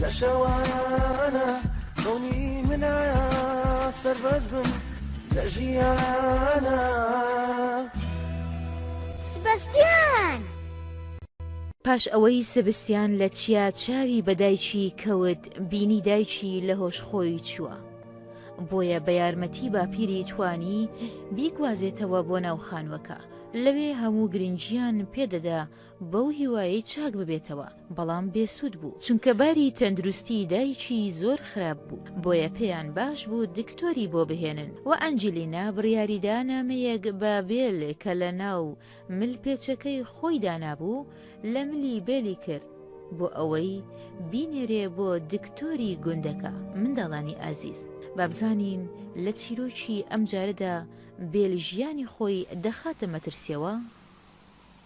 لە شەوانە خەونی منە سەربەز بم لە ژیانە سبەستیان پاش ئەوەی سبستیان لە چیا چاوی بە دایکی کەوت بینی دایکی لە هۆش خۆی چووە بۆیە بە یارمەتی باپیری توانی بیگوازێتەوە بۆ ناو خانوەکە لەوێ هەموو گرنگیان پێدەدا بەو هیوایەی چاک ببێتەوە بەڵام بێسوود بوو چونکە باری تەندروستی دایکی زۆر خراپ بوو بۆیە پێیان باش بوو دکتۆری بۆ بهێنن و ئەنجلینا بڕیاریدا نامەیەک بە بێل کە لە ناو مل پێچەکەی خۆی دانابوو لە ملی بێلی کرد بۆ ئەوەی بینێرێ بۆ دکتۆری گوندەکە منداڵانی ئازیز بابزانین لە چیرۆکی ئەم جارەدا بێل ژیانی خۆی دەخاتە مەترسیەوە؟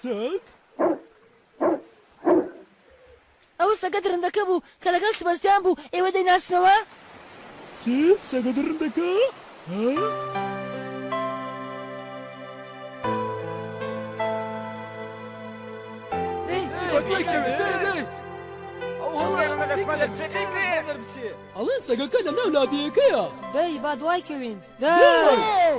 سەگ؟ ئەوە سەگە دڕندەکە بوو کە لەگەڵ سبەستیان بوو، ئێوە دەیناسنەوە؟ چ؟ سەگە دڕندەکە؟ ها؟ ئەڵێ سەگەکە لە ناو لادێیەکەیە دەی با دوای کەوین دەی!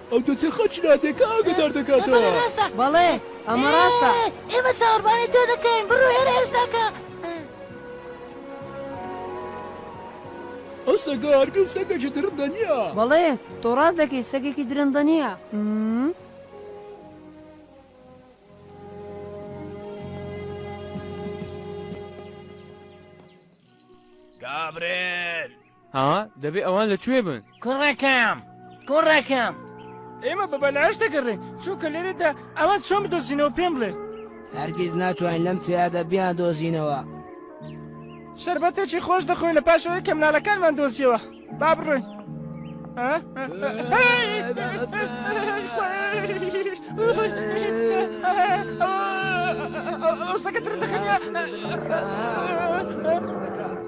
ئەو دۆسێخە چنادێکە ئاگەدار دەکاتەوە. بەڵێ ڕاستە. بەڵێ ئەمە ڕاستە. ئێمە چاوەڕوانی تۆ دەکەین. بڕۆ هێرە ئێستا کە. ئەو سەگە هەرگیز سەگێکی درندە نییە. بەڵێ تۆ ڕاست دەکەیت سەگێکی درندە نییە. گابرێل! ها دەبێ ئەوان لە کوێ بن؟ کوڕەکەم کوڕەکەم. ئێمە بە بەلاش دەگەڕێین چونکە لێرەدا. ئەوان چۆن بدۆزینەوە پێم بڵێ. هەرگیز ناتوانین لەم چیادە بیاندۆزینەوە. شەربەتێکی خۆش دەخۆین لە پاش ئەوەی کە مناڵەکانمان دۆزیەوە با بڕۆین. ئەوسەکە تر دەخەنە.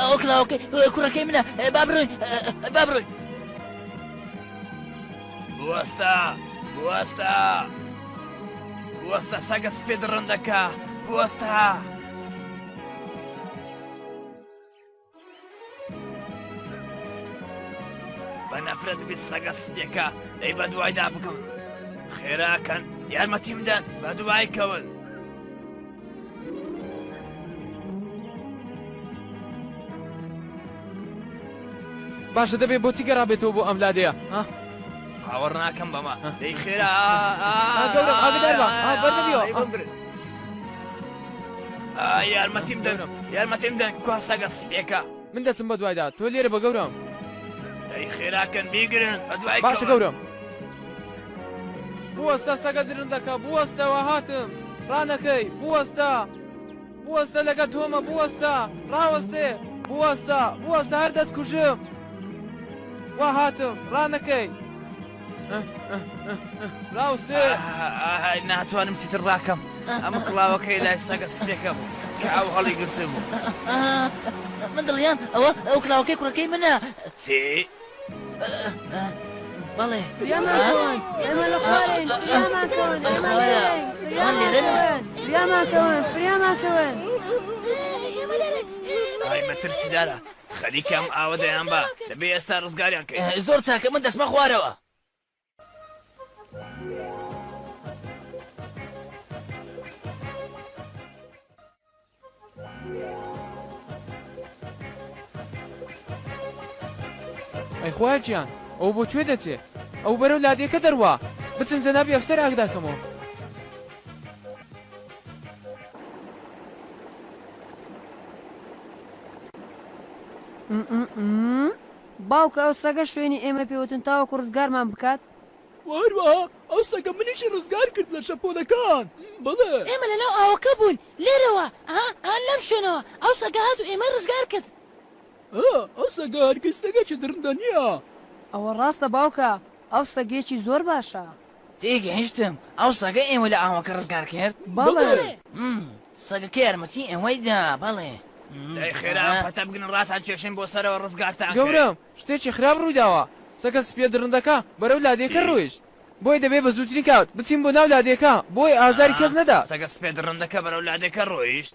ئەو کلااوکە کوڕەکەی منە با بڕۆین با بڕۆین بوەستە بوەستە بوەستە سەگە سپێ دڕندەکە بوەستە. بە نەفرەت بێ سەگە سپێکە دەی بە دوایدا بکەون خێراکەن یارمەتیم دەن بە دوای کەون باشە دەبێ بۆچی گەڕابێتەوە بۆ ئەم لادەیە ها باوەڕ ناکەم بەمە دەی خێرا گەورە ئاگدار بە بەر نەبیەوە. ئەی بمبرن. یارمەتیم دەن یارمەتیم دەن کوا سەگە سپێکە من دەچم بە دوایدا تۆ لێرە بە گەورم دەی خێراکەن بیگرن بە دوای باشە گەورم بوەستە سەگە درندەکە بوەستەوە هاتم ڕانەکەی بوەستە بوەستە لەگە تۆمە بوەستە ڕاوەستێ بوەستە بوەستە هەر دەتکوژم وا هاتم ڕانەکەی راوسێ ناتوانم چیتر ڕاکەم ئەمە کڵاوەکەی لای سەگە سپێکە بوو کە ئەو هەڵی گرتە بوو من دڵیان ئەوە ئەو کلااوەکەی کوڕەکەی منە چی؟ بەڵێ فریاماکەون فریاماکەون ئای مەترسیدارە خەریکە ئەم ئاوە دەیان با دەبێ ئێستا ڕزگاریان کەین. ئه زۆر چاکە من دەچمە خوارەوە. ئەی خوایە گیان ئەوە بۆ کوێ دەچێ؟ ئەوە بەرەو لادێکە دەروا. بچم جەنابی ئەفسەر ئاگدار کەمەوە. باوکە ئەو سەگە شوێنی ئێمە پێوتن تاوەکو ڕزگارمان بکات؟ وە هەروەها ئەو سەگە منیشی ڕزگار کرد لە شەپۆلەکان بەڵێ. ئێمە لەناو ئاوەکە بووین لێرەوە ئەها ئەها لەم شوێنەوە ئەو سەگە هات و ئێمەی ڕزگار کرد. ئەه ئەو سەگە هەرگیز سەگێکی دڕندە نییە. ئەوە ڕاستە باوکە ئەو سەگێکی زۆر باشە. تێگەیشتم، ئەو سەگە ئێوە لە ئاوەکە ڕزگار کرد؟ بەڵێ. ئم، سەگەکە یارمەتی ئێوەی دا، بەڵێ. ئم، دەی خێرا ئەم ئا. پەتە بگرن ڕاتان کێشین بۆ سەرەوە ڕزگارتان کرد. گەورەم، شتێکی خراپ ڕوویداوە، سەگە سپییە دڕندەکە بەرەو لادێکە چی؟ ڕۆیشت، بۆیە دەبێت بە زووترین کات بچین بۆ ناو لادێکە بۆ ئەوەی ئازاری کەس ئا، نەدات. سەگە سپییە دڕندەکە بەرەو لادێکە ڕۆیشت؟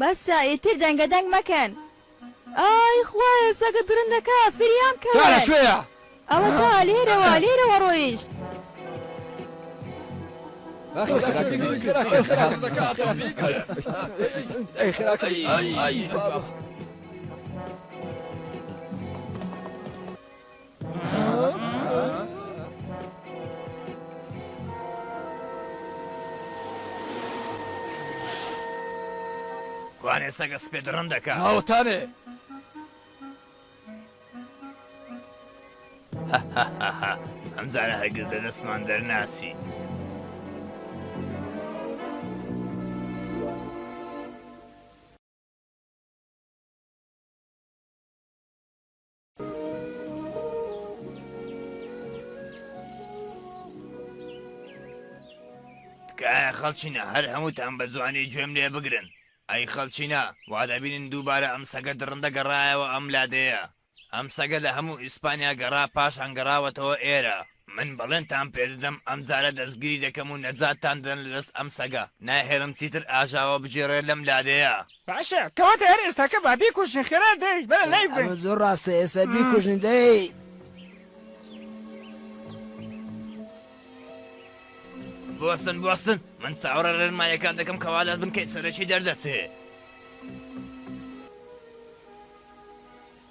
بەسە ئیتر دەنگە دەنگ مەکەن. ئای خوایە سەگە درندەکە فریام کەون. تا لە کوێیە؟ ئەوە تا لێرەوە لێرەوە ڕۆیشت. کوانێ سەگە سپێ دڕندەکە؟ ئاوەتانێ! ئەمجارە هەرگیز لە دەستمان دەرناچی. تکایە خەڵچینە هەر هەمووتان بە جوانی گوێم لێ بگرن ئەی خەڵچینە وا دەبینن دووبارە ئەم سەگە دڕندە گەڕایەوە ئەم لادێیە ئەم سەگە لە هەموو ئیسپانیا گەڕا پاشان گەڕاوەتەوە ئێرە من بەڵێنتان پێدەدەم ئەمجارە دەستگیری دەکەم و نەجاتتان دەدەم لە دەست ئەم سەگە، ناهێڵم چیتر ئاژاوە بگێڕێت لەم لادێیە. باشە کەواتە هەر ئێستاکە با بیکوژین خێرا دەی بەرە لای ببەین. ئەمە زۆر ڕاستە ئێستا بیکوژین دەی. بوەستن بوەستن من چاوەڕێ ڕێنماییەکان دەکەم کەوا لە بنکەی سەرەکی دەردەچێ.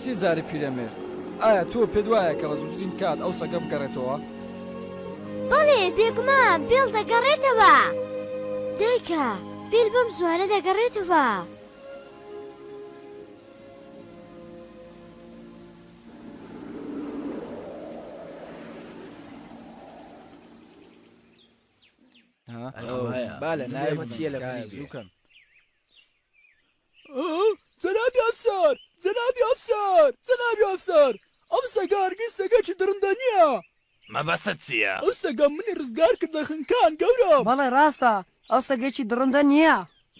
سیزاری پیرەمێرد، ئایا تۆ پێت وایە کە بە زووترین کات ئەو سەگە بگەڕێتەوە؟ بەڵێ، بێگومان بیڵ دەگەڕێتەوە. دایکە، بیل بەم زووانە دەگەڕێتەوە؟ جەنابی ئەفسەر! جەنابی ئەفسەر! جەنابی ئەفسەر! ئەم سەگە هەرگیز سەگێکی دڕندە نییە! مەبەستت چییە؟ ئەو سەگە منی ڕزگار کرد لە خنکان، گەورەم! بەڵێ ڕاستە، ئەو سەگێکی دڕندە نییە!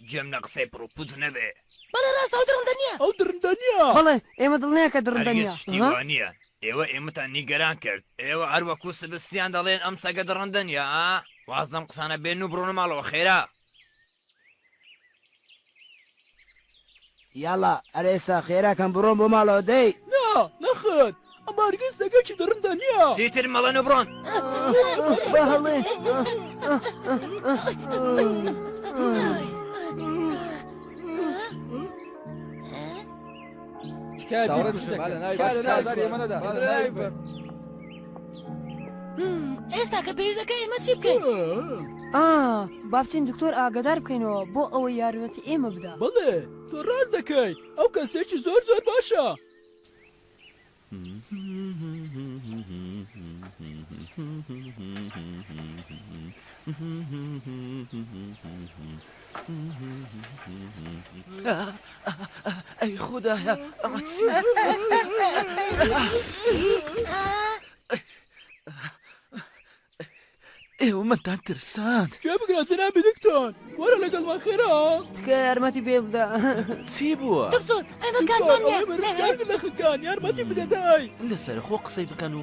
گوێم لە قسەی پڕ و پوچ نەبێ! بەڵێ ڕاستە، ئەو دڕندە نییە! ئەو دڕندە نییە! بەڵێ، ئێمە دڵنیاین کە دڕندە نییە! هەرگیز شتی وا نییە! ئێوە ئێمەتان نیگەران کرد! ئێوە هەر وەکوو سبستیان دەڵێن ئەم سەگە دڕندە نییە، ها؟ واز لەم قسانە بێنن و بڕۆنە ماڵەوە، خێرا! یاڵا ئەرێ ئێستا خێرا کەم بڕۆن بۆ ماڵەوە دەی. نا نەخێر ئەم بارگەی سەگەکی دڕندە نیە. چیتر مەڵێن و بڕۆن. با هەڵێ. تکایە بیکوژن. ئێستا کە پێویستەکە ئێمە چی بکەین؟ با بچین دکتۆر ئاگدار بکەینەوە بۆ ئەوە یارمەتی ئێمە بدا بڵێ تۆ ڕاست دەکەی ئەو کەسێکی زۆر زۆر باشە. ئەی خودایە ئەمە چیە؟ ئێوە مەتان ترساند گوێ بگرە جەنابی دکتۆر وەرە لەگەڵمان خێرا تکە یارمەتی پێ بدە چی بووە؟ دکتۆر ئەمە کارمان نییە. دکتۆر ئەوەی مەرگەکان لە خەکان یارمەتی بدە دای لەسەر خۆ قسەی بکەن و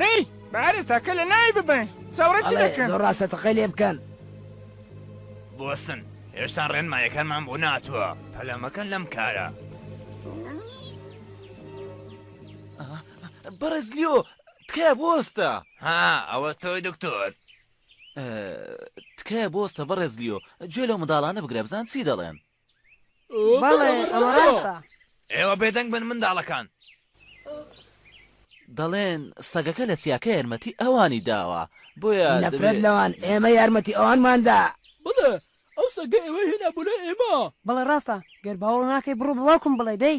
دەی بارز تاکە لە ناوی ببەین چاوڕێ چ ئەڵێ دەکەن؟ زۆر ڕاستە تەقەی لێ بکەن. بوەستن، هێشتا ڕێنمایەکانمان بۆ نەهاتووە، پەلە مەکەن لەم کارە. بەڕێز لیۆ، تکایە بوەستە. ها، ئەوە تۆی دکتۆر. تکایە بوەستە بەڕێز لیۆ، گوێ لەو منداڵانە بگرە بزان چی دەڵێن. بەڵێ ئەمە ڕاستە. ئێوە بێدەنگ بن منداڵەکان. دەڵێن سەگەکە لە چیاکە یارمەتی ئەوانی داوە بۆیە دەبێ. نەفرەت لەوان ئێمە یارمەتی ئەوانمان دا. بەڵێ ئەو سەگە ئێوەی هێنا بۆ لای ئێمە. بەڵێ ڕاستە گەر باوەڕ ناکەی بڕۆ بە باوکم بڵێ دەی.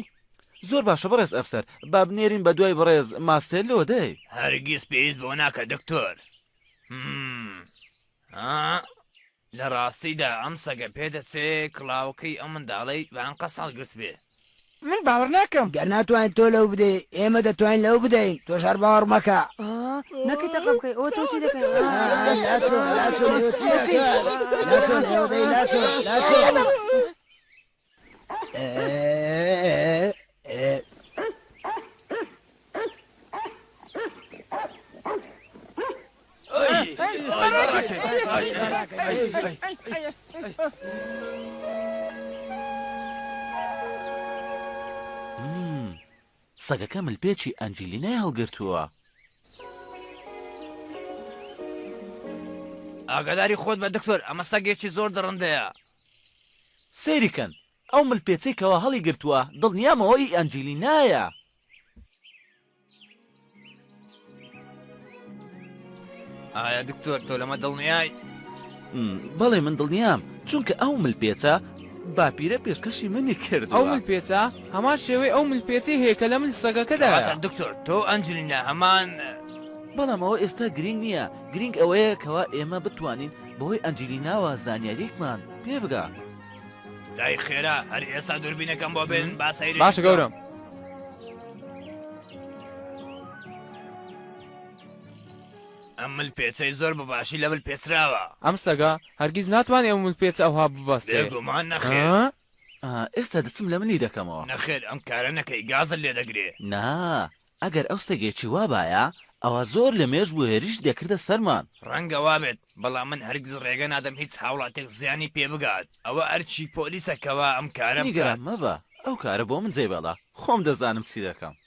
زۆر باشە بەڕێز ئەفسەر با بنێرین بە دوای بەڕێز ماستێلۆ دەی. هەرگیز پێویست بەوە ناکات دکتۆر. ها لە ڕاستیدا ئەم سەگە پێدەچێ کڵاوەکەی ئەو منداڵەی بە ئەنقەست هەڵگرتبێ. من باوەڕ ناکەم. گەر ناتوانیت تۆ لەو بدەی ئێمە دەتوانین لەو بدەین تۆش هەر باوەڕ مەکە. نەکەی تەقە بکەی ئۆ تۆ چی دەکەی ئۆ ئۆ لاچۆن لاچۆن ئێوە چی دەکەن لاچۆن ئێوە دەی لاچۆن لاچۆن. سەگەکە ملپێچی ئەنجلیای هەڵگرتووە. ئاگاداری خۆت بە دکتۆر ئەمە سەگێکی زۆر دڕندەیە. سەیری کەن ئەو مل پێچەی کەوا هەڵی گرتوە دڵنیام ئەوە ئی ئەنجیلینایە. ئایا دکتۆر تۆ لەمە دڵنیای؟ بەڵێ من دڵنیام چونکە ئەو مل پێچە باپیرە پێشکەشی منی کردوە. ئەو مل پێچە هەمان شێوەی ئەو مل پێچەی هەیە کە لە مل سەگەکەدایە. کەواتە دکتۆر تۆ و ئەنجلینا هەمان. بەڵام ئەوە ئێستا گرینگ نیە گرینگ ئەوەیە کەوا ئێمە بتوانین. بەهۆی ئەنجیلیناوە زانیاریەکمان پێ بگە. دای خێرا هەر ئێستا دوربینەکەم بۆ بێن با سەیری باشە گەورم ئەم مل پێچەی زۆر بە باشی لە مل پێچراوە ئەم سەگا هەرگیز ناتوانێت ئەو مل پێچ ئەوها ببەستێ گومان نەخێ ئێستا دەچم لە منی دەکەمەوە. نەخێر ئەم کارە نەکەی گازت لێ دەگرێ. نا ئەگەر ئەو سەگێکی وا بایە ئەوا زۆر لە مێژ بوو هێرشی دەکردە سەرمان. ڕەنگە وا بێت بەڵام من هەرگیز ڕێگە نادەم هیچ هاوڵاتیەک زیانی پێ بگات ئەوە ئەرکی پۆلیسە کەوا ئەم کارە بکات. نیگەران مەبە ئەو کارە بۆ من جێبێڵە خۆم دەزانم چی دەکەم.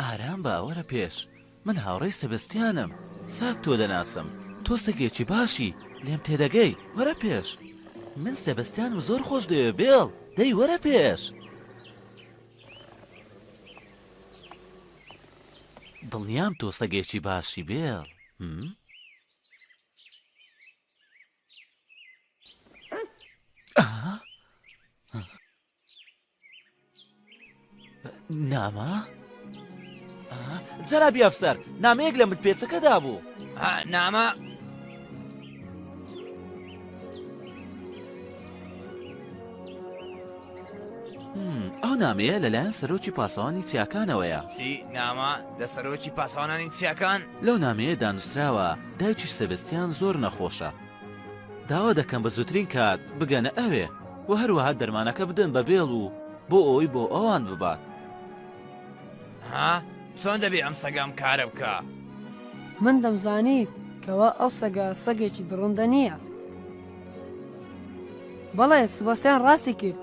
ئارام بە وەرە پێش من هاوڕێی سەبەستیانم چاک تۆ دەناسم تۆ سەگێکی باشی لێم تێدەگەی وەرە پێش من سەبەستیانم زۆر خۆش دەوێ بێڵ دەی وەرە پێش. دڵنیام تۆ سەگێکی باشی بێڵ هم؟ نامە؟ جەنابی ئەفسەر نامەیەک لە متپێچەکەدا بوو نامە ئەو نامەیە لەلایەن سەرۆکی پاسەوانی چیاکانەوەیە چی نامە لە سەرۆکی پاسەوانانی چیاکان لەو نامەیە دانووسراوە دایکی سەبستیان زۆر نەخۆشە داوا دەکەم بە زووترین کات بگەنە ئەوێ و هەروەها دەرمانەکە بدەن بە بێڵ و بۆ ئەوی بۆ ئەوان ببات ها چۆن دەبێ ئەم سەگەم کارە بکە من دەمزانی کەوا ئەو سەگە سەگێکی دڕندە نییە. بەڵێ سباسیان ڕاستی کرد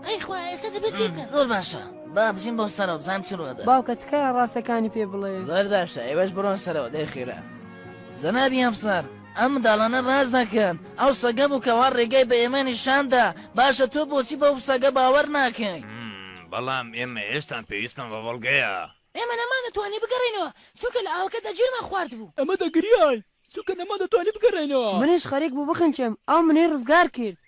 ئەی خوا ئێستا دەبێت چی بکەن زۆر باشە با بچین بۆ سەرەوە بزانم چی ڕووەدا باوکە تکایە ڕاستەکانی پێ بڵێ زۆر باشە ئێوەش بڕۆن سەرەوە دەی خێرا جەنابی ئەفسەر ئەم منداڵانە ڕاز دەکەن ئەو سەگە بوو کەوا ڕێگای بە ئێمە نیشاندا باشە تۆ بۆچی بەو سەگە باوەڕ ناکەی بەڵام ئێمە هێشتان پێویستمان بە بەڵگەیە ئێمە نەمانەتوانی بگەڕێینەوە چونکە لە ئاوەکەدا گیرمان خواردبوو. ئەمە دەگریای. چونکە نەماندەتوانی بگەڕێینەوە. منیش خەریک بوو بخنچێم، ئەو منی ڕزگار کرد.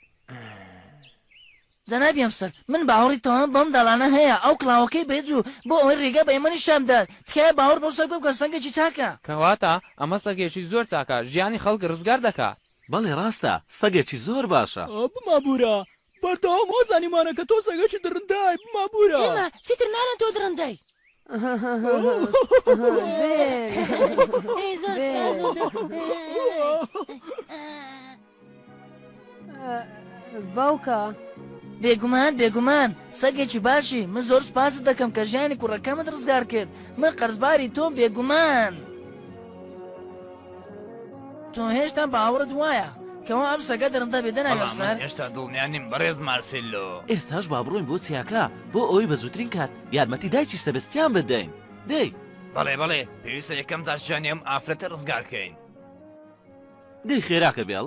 جەنابی ئەفسەر، من باوەڕی تەواوم بەو منداڵانە هەیە، ئەو کڵاوەکەی بەید و بۆ ئەوەی ڕێگا بە ئێمە نیشان بدات، تکایە باوەڕ بەو سەگە بکە، سەگێکی چاکە. کەواتە ئەمە سەگێکی زۆر چاکە، ژیانی خەڵک ڕزگار دەکات. بەڵێ ڕاستە، سەگێکی زۆر باشە. ئا، بمابوورە، بەردەوام وازانیمانە کە تۆ سەگێکی دڕندەی، بمابوورە. ئێمە چیتر ناڵێن تۆ دڕندەی. باوکە. بێگومان بێگومان سەگێکی باشی من زۆر سپاست دەکەم کە ژیانی کوڕەکەمت ڕزگار کرد من قەرزباری تۆم بێگومان تۆ هێشتا باوەڕت وایە کەەوە ئەم سەگە دڕندە بێ دەناوێت سەر هێشتا دڵنیانیم بەڕێز مارسیلۆ ئێستاش با بڕۆین بۆ چیاکە بۆ ئەوەی بە زووترین کات یارمەتی دایکی سەبستیان بدەین دەی. بەڵێ بەڵێ پێویستە یەکەم جار ژیانی ئەم ئافرەتە ڕزگار کەین. دەی خێراکە بێڵ.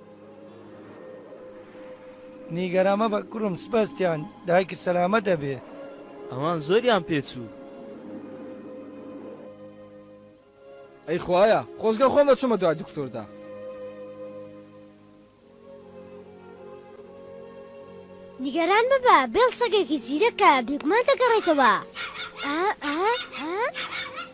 نیگەران مەبە کوڕم سبەستیان دایکت سەلامەت ئەبێ. ئەوان زۆریان پێ چوو. ئەی خوایە خۆزگە خۆم ئەچوومە دوای دکتۆردا. نیگەران مەبە بێڵ سەگێکی زیرەکە بێگومان دەگەڕێتەوە ئا ئا ئا.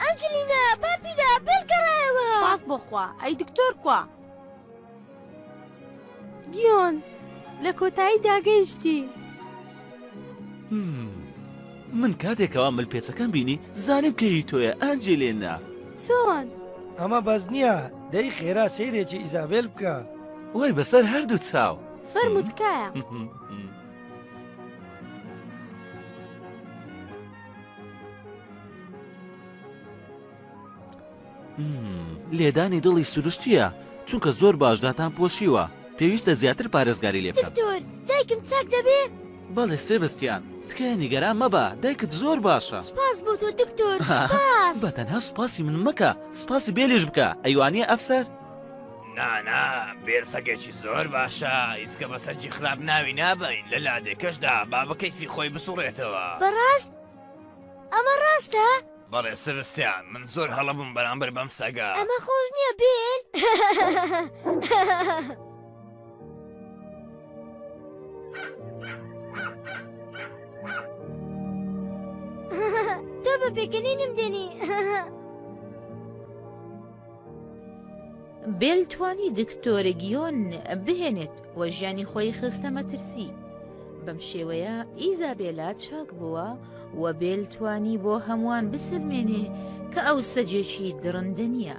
ئەنجلینا باپیرە بێل گەڕایەوە. سوپاس بۆ خوا ئەی دکتۆر کوا. گیۆن لە کۆتایی دا گەیشتی. من کاتێک ئەوا مل پێچەکەم بینی زانیم کە هی تۆیە ئەنجلێنا. چۆن؟ ئەمە بەس نییە دەی خێرا سەیرێکی ئیزابێل بکە. وەی بەسەر هەردوو چاو. فەرموو تکایە. لێدانی دڵی سروشتیە چونکە زۆر باشداتان پۆشیوە پێویستە زیاتر پارێزگاری لێ دکتۆر دایکم چاک دەبێ بەڵێ سێبستیان تکایە نیگەران مەبە دایکت زۆر باشە سپاس بۆ تۆ دکتۆر بەتەنها سپاسی من مەکە سپاسی بێلیش بکە ئەیوانە ئەفسەر نانا بێر سەگێکی زۆر باشە ئیسکە بە سەرجی خراپ ناوی نابین لە لادێکەشدا بابەکەیفی خۆی بسوڕێتەوە بەڕاست ئەمە ڕاستە؟ بەڵێ سەرستیان من زۆر هەڵەبووم بەرامبەر بەم سەگە ئەمە خۆش نییە بێن تۆ بە پێکەنینم دێنی بێل توانی دکتۆر گیۆن بهێنێت و ژیانی خۆی خستە مەترسی بەم شێوەیە ئیزابێلا چاک بووە و بێل توانی بۆ هەمووان بسلمێنێ کە ئەو سەجێکی دڕندە نییە.